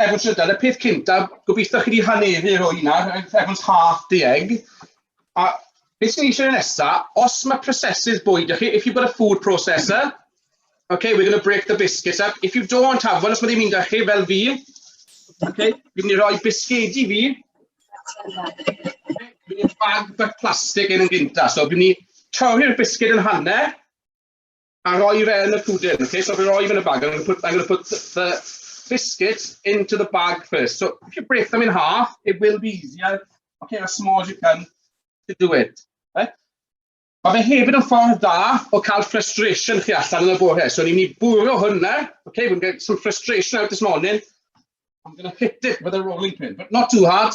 efo trydar, y peth cyntaf, gobeithio chi wedi haneru o hynna, everyone's half the egg. A beth sy'n eisiau nesa, os mae prosesydd bwyd ych chi, if you've got a food processor, okay, we're going to break the biscuits up. If you don't have one, os mae ddim un da chi, fel fi, okay, fi'n mynd i roi bisgedi fi, fi'n mynd i bag bach plastig yn yn gynta, so fi'n mynd i torri'r bisged yn hanner, a rhoi fe yn y pwdin. Okay, so fi'n rhoi fe yn y bag. I'm going to put, I'm going to put the biscuit into the bag first. So if you break them in half, it will be easier. Okay, as small as you can to do it. Okay? Mae fe hefyd yn ffordd da o cael frustration chi allan yn y bore. So ni'n mynd i bwrw hwnna. Okay, we're going to get some frustration out this morning. I'm going to hit it with a rolling pin, but not too hard.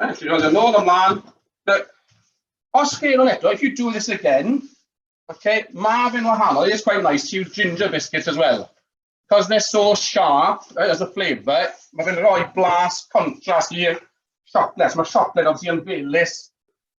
Right, you roll nôl ymlaen. But os chi yn eto, if you do this again, okay, mae fe'n wahanol. It's quite nice to use ginger biscuits as well. Because they're so sharp eh, as a flavour, mae fe'n rhoi blas contrast i'r siocled. Mae siocled obviously yn felus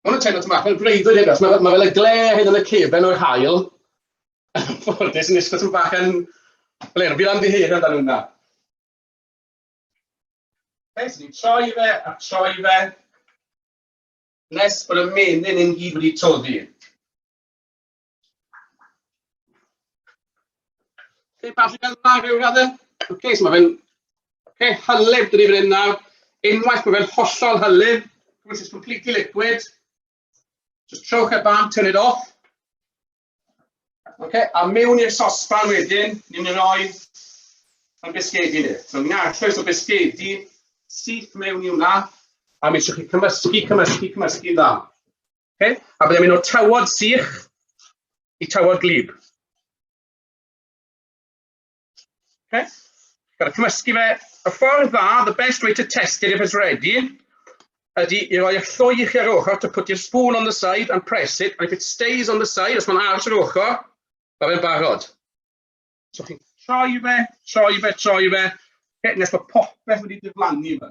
Mae hwn yn teimlo tyma'n bach fel breuddwyd hyn, achos mae, mae fel y gle hyn yn y cefen o'r hael. Ffodus yn eistedd tyma'n bach yn... Fel hyn, fi'n amddiheir amdano hwnna. Fe, so ni'n troi fe a troi fe, nes bod y menyn yn gyd wedi toddi. Lle bach yn dda rhyw radde. Ok, so mae fe'n ok, hylif dyn ni fan hyn nawr. Unwaith mae fe'n hollol hylif, which is completely liquid, just trowch e ban, turn it off. Ok, a mewn i'r sosban wedyn, ni'n mynd roi yn bisgedi ni. So ni'n arllwys o bisgedi syth mewn i hwnna, a mi eisiau chi cymysgu, cymysgu, cymysgu dda. Okay? A byddai'n mynd o'r tawod sych i tawod glib. Okay? Gael cymysgu fe. Y ffordd dda, the best way to test it if it's ready, ydy i roi y lloi i chi ar ochr to put your spoon on the side and press it, and if it stays on the side, os mae'n aros ar ochr, mae fe'n barod. So chi'n troi fe, troi fe, troi fe, okay, nes mae popeth wedi diflannu fe.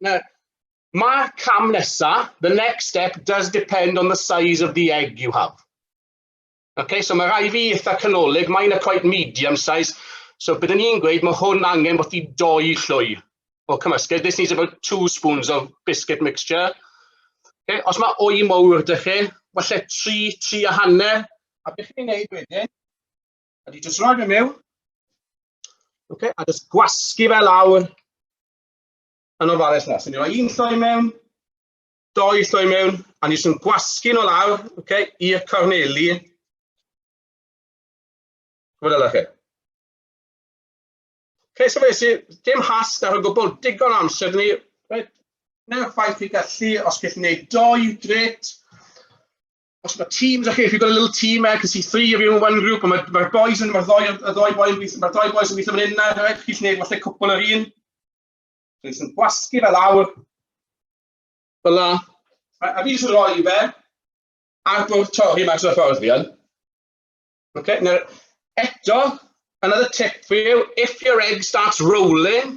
Now, mae'r cam nesaf, the next step, does depend on the size of the egg you have. Okay, so mae rai fi eitha canolig, mae'n a quite medium size, so byddwn ni'n gweud mae hwn angen bod i doi llwy o cymysgedd. This needs about two spoons of biscuit mixture. Okay, os mae o'i mowr dych chi, falle tri, tri a hanner, a beth chi'n gwneud wedyn, ydy jyst rhoi fe mewn, okay, a jyst gwasgu fe lawr yn ofalus na. So ni roi un lloi mewn, doi lloi mewn, a ni jyst yn gwasgu nhw lawr, okay, i'r corneli. Gwyd ala chi. Okay, so fe sy'n dim has ar y gwbl, digon amser ni. Right. Neu'r ffaith i gallu, os gallwn ni wneud doi, gret. os mae teams, okay, if you've got a little team there, because see three of you in one group, mae'r ma boys yn, mae'r ddoi, y ddoi boys yn gweithio, mae'r ddoi boys yn gweithio fan hyn na, right? chi'n gwneud falle cwpl yr un. Dwi'n sy'n gwasgu fel awr. Fel la. A fi jyst yn rhoi fe ar bwrdd torri mas o'r ffordd fi yn. Okay, now, eto, another tip for you, if your egg starts rolling,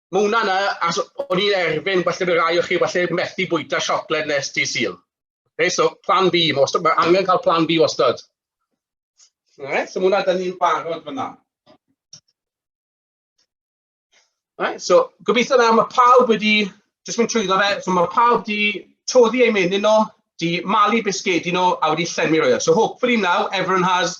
Ma' hwnna'n yy as o'n i'n erfyn falle by' rai o chi falle methu bwyta siocled nes dydd Sul. Oce so plan B ma' wastad ma' angen cael plan B wastad. Alright so ma' hwnna dyn ni'n barod fan'na. Alright so gobeithio nawr ma' pawb wedi jyst mynd trwyddo fe so ma' pawb 'di toddi eu menyn nhw, 'di malu bisgedi nhw a wedi llenwi rhywle. So hopefully now everyone has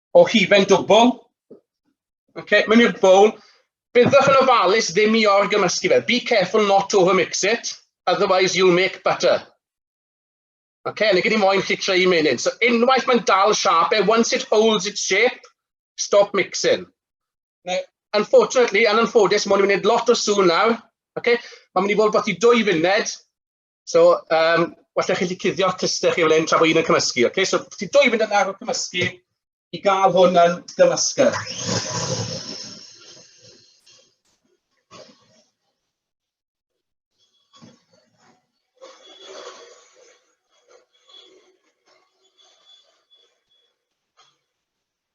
o hufen dwbl. Okay, mae'n i'r bowl. Byddwch yn ofalus ddim i orgymysgu fe. Be careful not to overmix it, otherwise you'll make butter. Okay, yn y gyd i moyn chi creu menyn. So unwaith mae'n dal siap e, once it holds its shape, stop mixing. Now, unfortunately, yn anffodus, mae'n mynd lot o sŵn nawr. Okay? Mae'n mynd i fod beth i dwy funud, So, um, well chi wedi cuddio cluster chi fel hyn tra bod un yn cymysgu. Okay? So, ti dwy mynd yn ar y cymysgu i gael hwn yn gymysgu.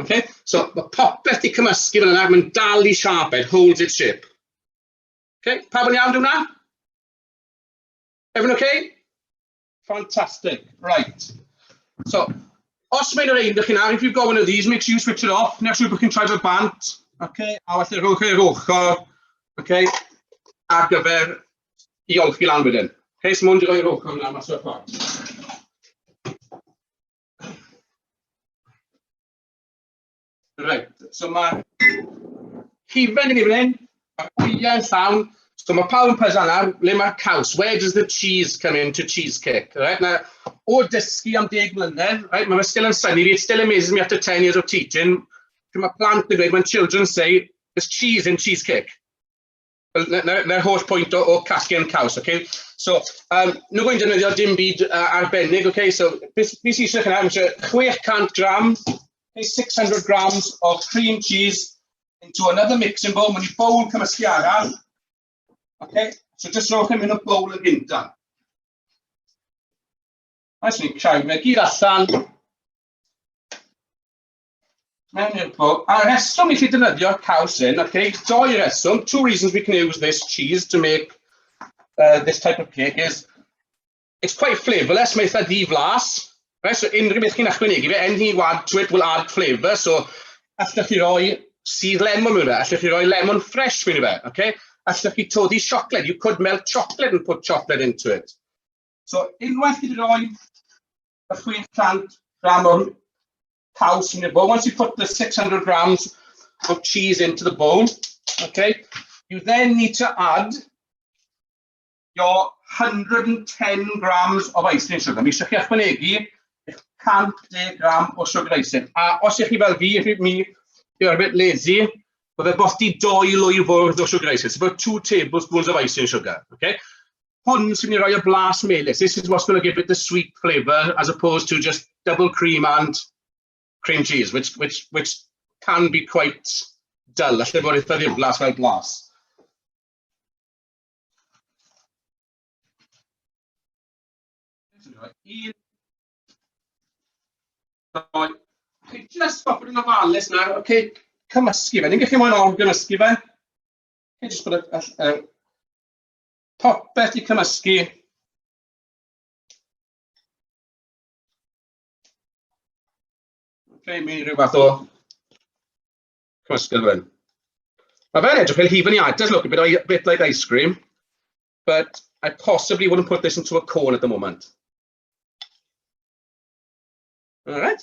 Okay? So, mae popeth di cymysgu fel yna, mae'n dal i siap, it holds its shape. Okay? Pa yn iawn hwnna? Everyone okay? Fantastic, right. So, os mae'n yr ein dych chi'n ar, if you've got one of these, make sure you switch it off, neu siw bod chi'n troi fel bant, okay? a felly rhowch e'r ochr, okay? ar gyfer i olchi lan wedyn. Okay, so mwyn rhoi'r ochr yna mas o'r ffordd. Reit, so mae hufen yn ei flen, mae gwyliau yn llawn, so mae pawb yn pwysau nawr, le mae'r caws? Where does the cheese come in to cheesecake? Right, now, o dysgu am deg mlynedd, right, mae fe still yn syni fi, it still amazes me after 10 years of teaching, mae plant yn dweud, when children say, there's cheese in cheesecake. Na'r holl pwynt o, o casgen caws, okay? So, um, nhw gwyn defnyddio dim byd uh, arbennig, okay? So, beth sy'n eisiau chynaf? Mae 600 gram, okay, 600 grams of cream cheese into another mixing bowl. Mae'n bowl cymysgu arall. Okay? So, just rhowch yn mynd o bowl yn gynta. Mae'n sy'n creu, mae gyd allan. Mewn i'r bwl. A reswm i chi dynyddio caws hyn, ac eich doi reswm, two reasons we can use this cheese to make uh, this type of cake is, it's quite flavourless, mae eitha di-flas, right? so unrhyw beth chi'n ychwanegu fe, anything you add to it will add flavour, so allwch chi roi sydd lemon mewn fe, allwch chi roi lemon fresh mewn fe, okay? allwch chi todi siocled, you could melt chocolate and put chocolate into it. So unwaith chi wedi rhoi a 500 gram o'r caws in your bowl. Once you put the 600 grams of cheese into the bowl, okay, you then need to add your 110 grams of icing sugar. Mi eisiau chi ychwanegu 110 gram o sugar icing. A os ych chi fel fi, ych mi, you're a bit lazy, Byddai bosti doi lwy fwrdd o sugar icing. It's about two tablespoons of icing sugar. Okay? hwn sy'n ei roi y blas melys. This is what's going to give it the sweet flavour as opposed to just double cream and cream cheese, which, which, which can be quite dull. Alla fod eitha ddiflas fel blas. Un... Just stop yn ofalus nawr, okay, cymysgu fe. Ni'n gallu mwyn o'n gymysgu fe. Okay, just put a, a, a Popeth i cymysgu. Okay, mi rhyw fath o cymysgedd fan. Mae fe'n edrych fel hufen iata, look, a bit, a bit like ice cream, but I possibly wouldn't put this into a cone at the moment. All right.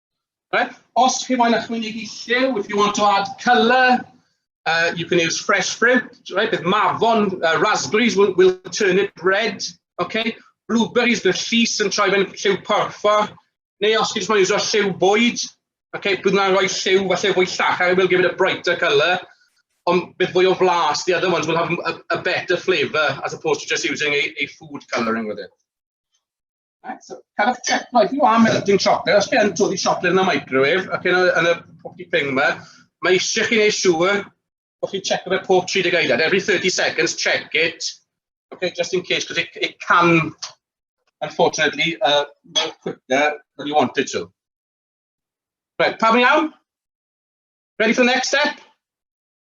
Right. Os chi moyn ychwanegu lliw, if you want to add colour, uh, you can use fresh fruit, right? Bydd mafon, uh, raspberries will, will turn it red, okay? Blueberries, bydd llys yn troi fe'n lliw porffor, neu os chi'n moyn iwsio lliw bwyd, okay, bydd yna'n rhoi lliw falle fwy llach, I will give it a brighter colour, ond bydd fwy o flas, the other ones will have a, a better flavour as opposed to just using a, a food colouring with it. Right, so, cael eich check, right, you are melting chocolate, os gen todi chocolate yn y microwave, ac yn y, yn y pocky thing yma, mae eisiau chi wneud siŵr bod chi'n check fe pob 30 eiliad. Every 30 seconds, check it, okay, just in case, because it, it can, unfortunately, uh, move quicker than you want it to. Right, pam iawn? Ready for the next step?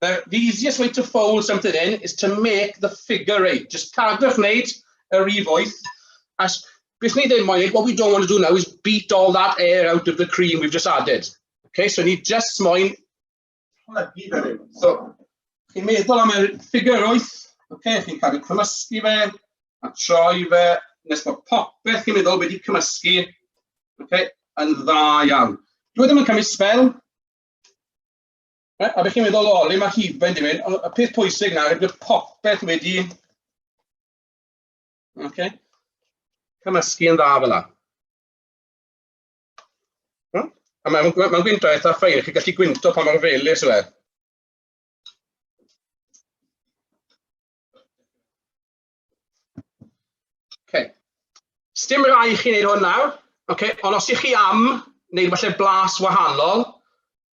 The, the easiest way to fold something in is to make the figure eight. Just cadwch wneud yr rif wyth. As, beth ni ddim moyn, what we don't want to do now is beat all that air out of the cream we've just added. Okay, so ni just moyn plygu fe rhyw. So, chi'n meddwl am y ffigur wyth, okay, chi'n cadw cymysgu fe, a troi fe, nes bod popeth chi'n meddwl wedi cymysgu, okay, yn dda iawn. Dwi ddim yn cymryd spel, Right, a beth chi'n meddwl o, le mae hufen di mynd? Y peth pwysig na, rydw popeth wedi... Okay. Cymysgu yn dda fel yna. A mae'n ma, ma gwyntog eitha ffein, chi'n gallu gwynto pa mor felus yw e. Okay. Sdim rai chi'n neud hwn nawr, okay. ond os ych chi am wneud falle blas wahanol,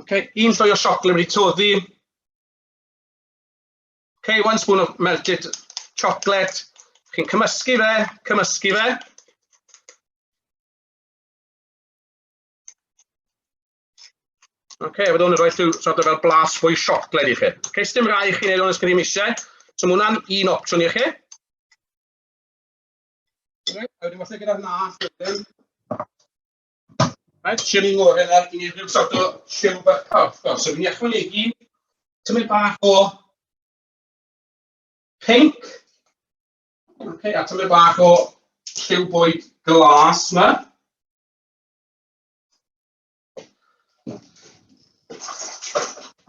Ok, un llwy o siocled wedi toddi. Ok, one spoon of melted chocolate. Chi'n cymysgu fe, cymysgu fe. Ok, a byddwn yn rhoi llw sort of fel blas fwy siocled i chi. Ok, sdim rai i chi wneud o'n ysgrifennu eisiau. So mae hwnna'n un opsiwn i chi. Right, a wedyn falle gyda'r nas wedyn. Mae'n siwr i'n ngorau ar i rhyw sort o siw bach carchar. So fi'n ychwanegu tymau bach o pink. Okay, a tymau bach o lliw bwyd glas yma.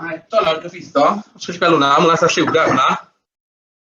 A eto nawr gyfeitho, os ydych chi'n gweld hwnna, mae'n eitha lliwgar hwnna.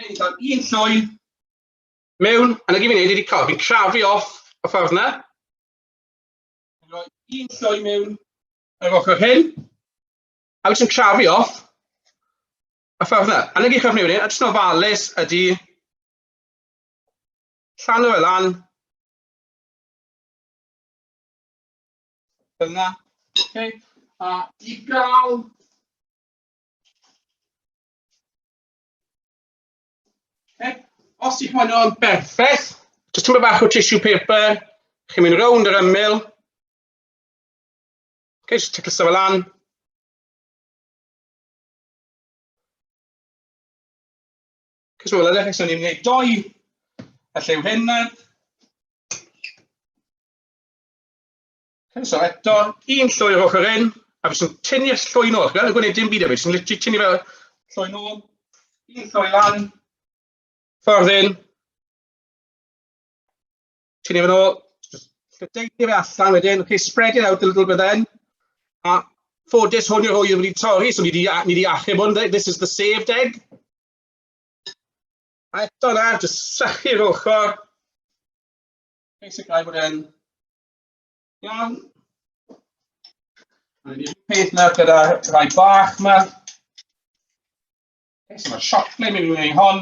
Hyn, cael un llwydd mewn, a na gyd fi'n neud wedi cael, fi'n crafu off y ffordd na. Fi'n rhoi un llwy mewn ar yr ochr hyn, a fi'n crafu off y ffordd na. A na gyd chi'n neud, a jyst yn ofalus ydy llan o'r lan. Dyna. Okay. A i gael Okay. Os ydych chi'n o'n berffaith, jyst tymor bach o tissue paper, chi'n mynd rownd yr ymyl. Okay, jyst ticio sefyll lan. Cys mae'n edrych eich ni'n gwneud doi, a llew hyn nawr. Croeso eto, un llwy o'r ochr hyn, a fi sy'n tynnu y llwy nôl. Gan y gwneud dim byd efo, sy'n literally tynnu fel llwy nôl, un llwy lan, ffordd hyn, tynnu fe nôl, lledeini fe allan wedyn, okay, spread it out a little bit then, a ffodus hwn yw'r hwy wedi torri, so ni wedi, ni wedi achub hwn, this is the saved egg. A eto na, jyst sychu'r ochr, basically bod e'n Iawn. Mae'n un peth nawr gyda rhai bach yma. Okay, so mae siop ble mynd i wneud hon.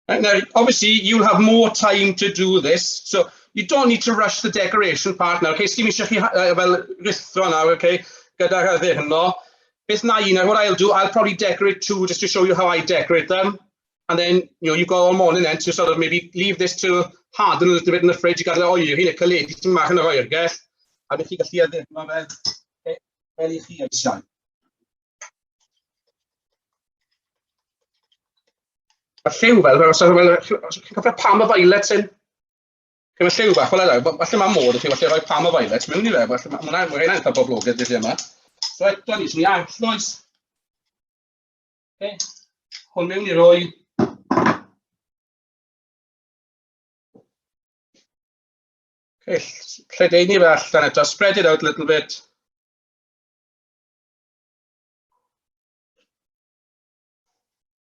And now, obviously, you'll have more time to do this, so you don't need to rush the decoration part now. Okay, sdim eisiau chi uh, fel rithro nawr, okay, gyda'r adde hynno. Beth na i, 'na what I'll do, I'll probably decorate two just to show you how I decorate them. And then, you know, you've got all morning then to sort of maybe leave this to harden a little bit in the fridge i gael ei oeri, neu caledu ti'n mach yn yr oergell. A bych chi gallu addurno fe e, fel i chi eisiau. A lliw fel, fel os ydych chi'n cofio pam y violet hyn? Efo lliw bach, wel edo, falle mae modd i chi, falle rhoi pam o violet mewn i fe, falle mae hwnna, mae hwnna'n eitha boblogaidd dyddi yma. So eto ni, ni allwys. Okay. Hwn mewn i roi lledaenu fe allan eto, spread it out a little bit.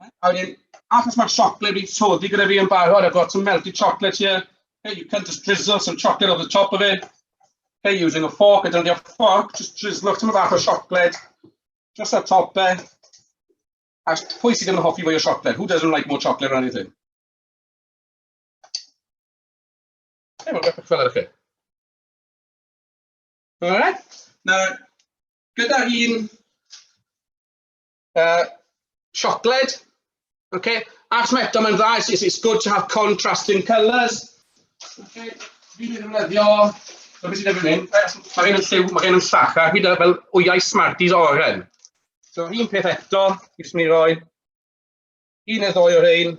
A wedyn, achos mae'r siocled wedi toddi gyda fi yn barod, I've got some melted chocolate here. Hey, you can just drizzle some chocolate over the top of it. Hey, using a fork, I don't need a fork, just drizzle off some bach o siocled. Just a top e. A pwy sydd ddim yn hoffi fwy o siocled? Who doesn't like more chocolate or anything? Hey, mae'n beth fel chi. Alright. Nawr, gyda un Uh, siocled. Okay. Ac mae eto mae'n dda, it's, it's good to have contrasting colours. Okay. Fi ddim yn ddefnyddio, mae beth sy'n efo'n hyn, mae gen yn lliw, mae gen yn llach, a hyd fel wyau Smarties oren. So un peth eto, fi jyst mynd i roi un neu ddoi o'r ein.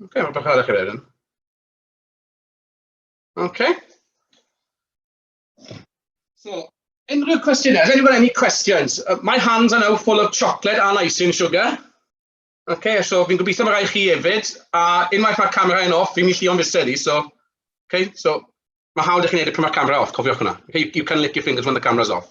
Ok, mae'n bach arach i wneud hyn. Ok. So, unrhyw cwestiynau? Has anyone any questions? Uh, my hands are now full of chocolate and icing sugar. Ok, so fi'n gobeithio mae rai chi hefyd. A unwaith mae'r camera yn off, fi'n mynd i o'n fused i, so... Ok, so mae hawdd i chi wneud y pan mae'r camera off, cofiwch hwnna. You can lick your fingers when the camera's off.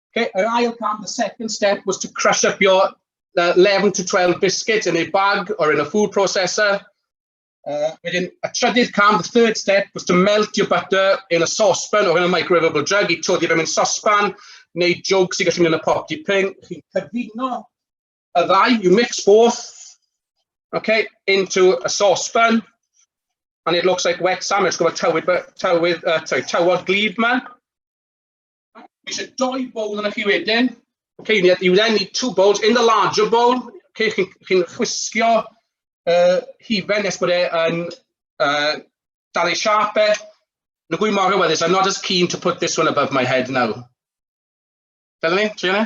Okay, yr ail cam, the second step was to crush up your uh, 11 to 12 biscuits in a bag or in a food processor. Uh, wedyn, a trydydd cam, the third step, was to melt your butter in a saucepan or in a microwavable jug. I todi fe mewn saucepan neu jwg sy'n gallu mynd yn y pop di ping. Chi'n cyfuno y ddau, you mix both, okay, into a saucepan. And it looks like wet sandwich, gwybod tywydd, tywydd, uh, sorry, tywod glib man. Mae eisiau doi bowl yna chi wedyn. Okay, you need, you then need two bowls. In the larger bowl, okay, chi'n chi chwisgio uh, hifen nes bod e'n uh, dal ei siap e. Na gwy mor hyweddus, I'm not as keen to put this one above my head now. Fel ni, Triana?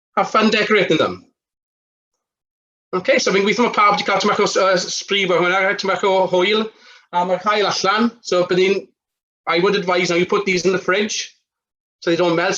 Have fun decorating them. OK, so fi'n gweithio mae pawb wedi cael tymach o uh, spree fo hwnna, tymach o hwyl, a mae'r cael allan. So bydd i'n, I would advise now you put these in the fridge, so they don't melt, so